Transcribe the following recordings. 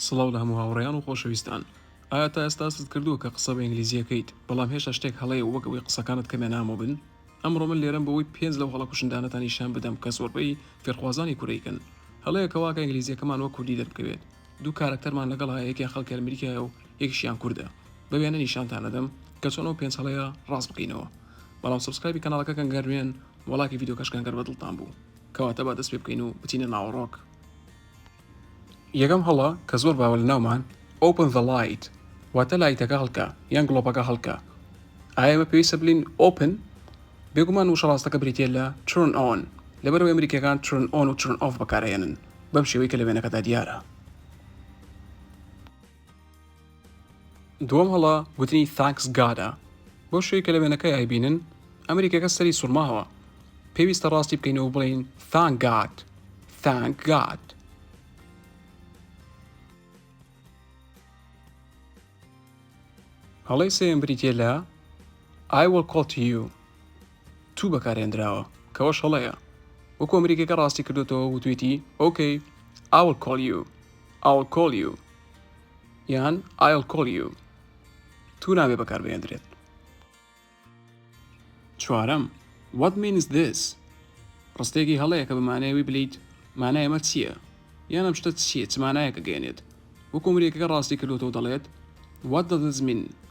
سڵاو لە هەموو هاوڕێیان و خۆشەویستان. ئایا تا ئێستا هەستت کردووە کە قسە بە ئینگلیزی ئەکەیت، بەڵام هێشتا شتێک هەڵەیە وەک ئەوەی قسەکانت کەمێ نامۆ بن؟ ئەمڕۆ من لێرەم بۆ ئەوەی پێنج لەو هەڵە کوشندانەتان نیشان بدەم کە زۆربەی فێرخوازانی کورەیکەن. هەڵەیە کە واکە ئینگلیزیەکەمان وەک کوردی دەربکەوێت. دوو کارەکتەرمان لەگەڵا هەیە یەکیان خەڵکی ئەرمریکایە و یەکیشیان کوردە. بە وێنە نیشانتان ئەدەم کە چۆن ئەو پێنج هەڵەیە ڕاست بکەینەوە. بەڵام سەبسکرایبی کەناڵەکە کەن گەر نوێن و ڵایکی ڤیدیۆکەش کەن گەر بە دڵتان بوو. کەواتە با دەست پێ بکەین و بچینە ناوەڕۆک. یەکەم هەڵە کە زۆر باوە لەناومان Open the light واتە لایتەکە هەڵکە یان گڵۆپەکە هەڵکە ئایا ئێمە پێویستە بلین Open بێگومان وشە ڕاستەکە بریتە لە Turn on لەبەرەوەی ئەمریکیەکان Turn on و Turn off بەکارهێنن بەم شێوەی کە لە وێنەکەدا دیارە دووەم هەڵە گوتنی Thanks God ە بۆ شوێی کە لە وێنەکەی ئایبینن ئەمریکیەکە سەری سوڕماوە پێویستە ڕاستی بکەین و بڵین Thank God Thank God هەڵی سێم بریتە لە I will call to you تو بەکارهێندراوە کەوەش هەڵەیە وەکو ئەمریکیەکە ڕاستی کردۆتەوە وتوێتی ok I'll call you I'll call you یان I'll call you تو نابێ بەکار بهێندرێت چوارەم What means this ڕستێکی هەڵەیە کە بەمانەیەوی بلیت مانای ئەمە چییە یان ئەم شتە چییە چ مانایەکە گەێنێت وەکو ئەمریکەکە ڕاستی کردۆتەوە دەڵێت What does this mean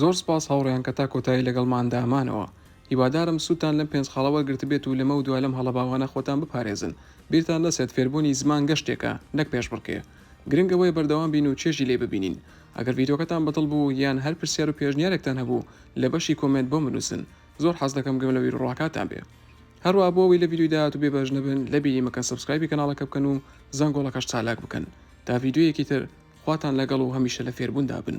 زۆر سپاس هاوڕێیان کە تا کۆتایی لەگەڵماندا مانەوە. هیوادارم سوودتان لەم پێنج خاڵە وەرگرتبێت و لەمەو دوا لەم هەڵە باوانە خۆتان بپارێزن. بیرتان نەچێت فێربوونی زمان گەشتێکە نەک پێشبڕکێ. گرنگ ئەوەیە بەردەوام بین و چێژی لێی ببینین. ئەگەر ڤیدیۆکەتان بەدڵ بوو یان هەر پرسیار و پێشنیارێکتان هەبوو لە بەشی کۆمێنت بۆم بنووسن. زۆر حەز دەکەم گوێم لە بیروڕاکاتان بێ. هەروا بۆ ئەوەی لە ڤیدیۆی داهاتوو بێ بەش نەبن لەبیری مەکەن سەبسکرایبی کەناڵەکە بکەن و زەنگۆڵەکەش چالاک بکەن تا ڤیدیۆیەکی تر خواتان لەگەڵ و هەمیشە لە فێربووندا بن.